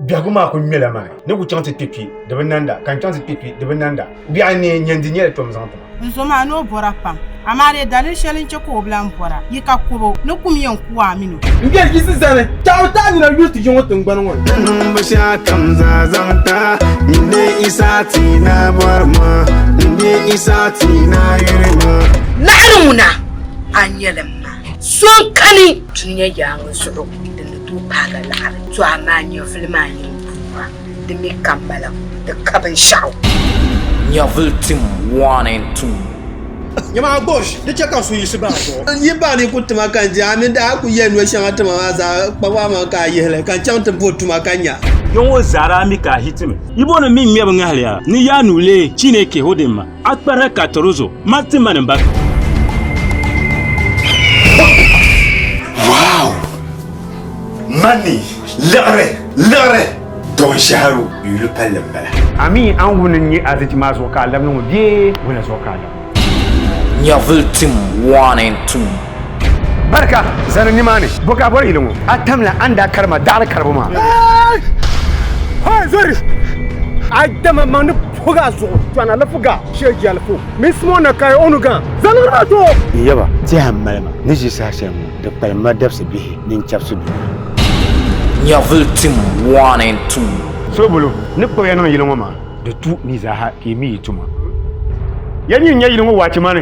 Biɛhigu maa ku ŋmɛla ma ni ku chaŋ ti kpe kpi di bi nanda, ka n chaŋ ti kpe kpi di bi nanda. Biɛhi n neei nyandi nyɛla tom zaŋ ti ma. N zo maa ni o bɔra pam, amaa dee daliri shɛli n-chɛ ka o bi lan bɔra, yi ka kɔb o, ni kum yɛn ku a min o. N biɛhi yiɣisi zani, taɣi o taɣi nina yuli ti yiŋ o tiŋgbani ŋɔ ni. Di niŋ bi shɛli kam zaa zaŋ ti a, nyin di Yisa ti na bɔri ma, nyin di Yisa ti na yuri ma. Naɣiri ŋuna a nyɛli m ma, so n-kani dunia yaaŋa zuɣu. N paagi laɣiri to a maa nyɛvuli maa nyin buŋa, di mi kammala kum ti ka binshɛɣu. Nyɛvuli tim wɔni n-tum. Nyama a gosh! Di chɛ ka n suhu yiɣisi bahi a zuɣu. N yi bahi ni n ku tima ka n je, a mi daa ku yɛn noli shɛŋa tima maa zaa kpab a maŋa ka a yihi li ka n chaŋ ti bo tuma ka nya. Yo ŋɔ zaa daa mi ka a hiti mi. Yibonim mi ŋmɛbu ŋahili a ni yaa nuu leei Chineke Hodimma. A kpɛrhi ka tiri o zuɣu mali ti mani m-ba. Wow! Mani, liɣiri, liɣiri! Dɔɔn Shɛharu yuli palli m-bala. Ami an wuni n-nyɛ azichi maa zuɣu ka a labina ŋɔ bee wula zuɣu ka a labina? Nyɛvili tim waani n-tum. Barika zani nimaani, bo ka a bɔri yili ŋɔ? A tamla a ni daa kari ma daɣiri karibu maa. Hoi zɔri! A dama maŋ ni. Fuga zuɣu tɔna li fuga shee jɛlifu mini simo na kai o nu gã zaligi maa to. N yaba, tɛha m-mali ma ni ʒi saha shɛli ŋɔ di kpalim ma dabisi bihi mini chɛbisi bihi. Nyɛvili tim waani n-tum. Sobolo ni kpuɣi ya niŋ yili ŋɔ maa, di tu ni zaaha ka yi mi yi tuma. Ya ni yi nya yili ŋɔ waachi mani.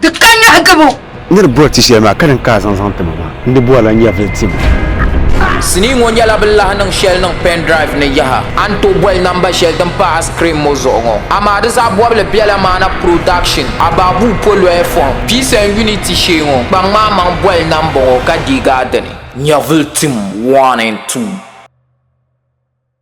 Di ka nyɔhi gabu. N ni di bɔri ti shɛli maa, ka din ka a zaŋ zaŋ ti ma maa, n di bɔrila nyɛvili tim. Sinii ŋɔ nyɛla bɛ lahi niŋ shɛli niŋ pen drive ni yaha. A ni tooi boli namba shɛli din pa a screen ŋɔ zuɣu ŋɔ, amaa di zaɣ bɔbili bela maana Production, Abaabuu poloya fɔhim, Peace and Unity shee ŋɔ. Kpaŋ maa maŋ boli namba ŋɔ ka deegi a dini. Nyɛvili tim, one and two.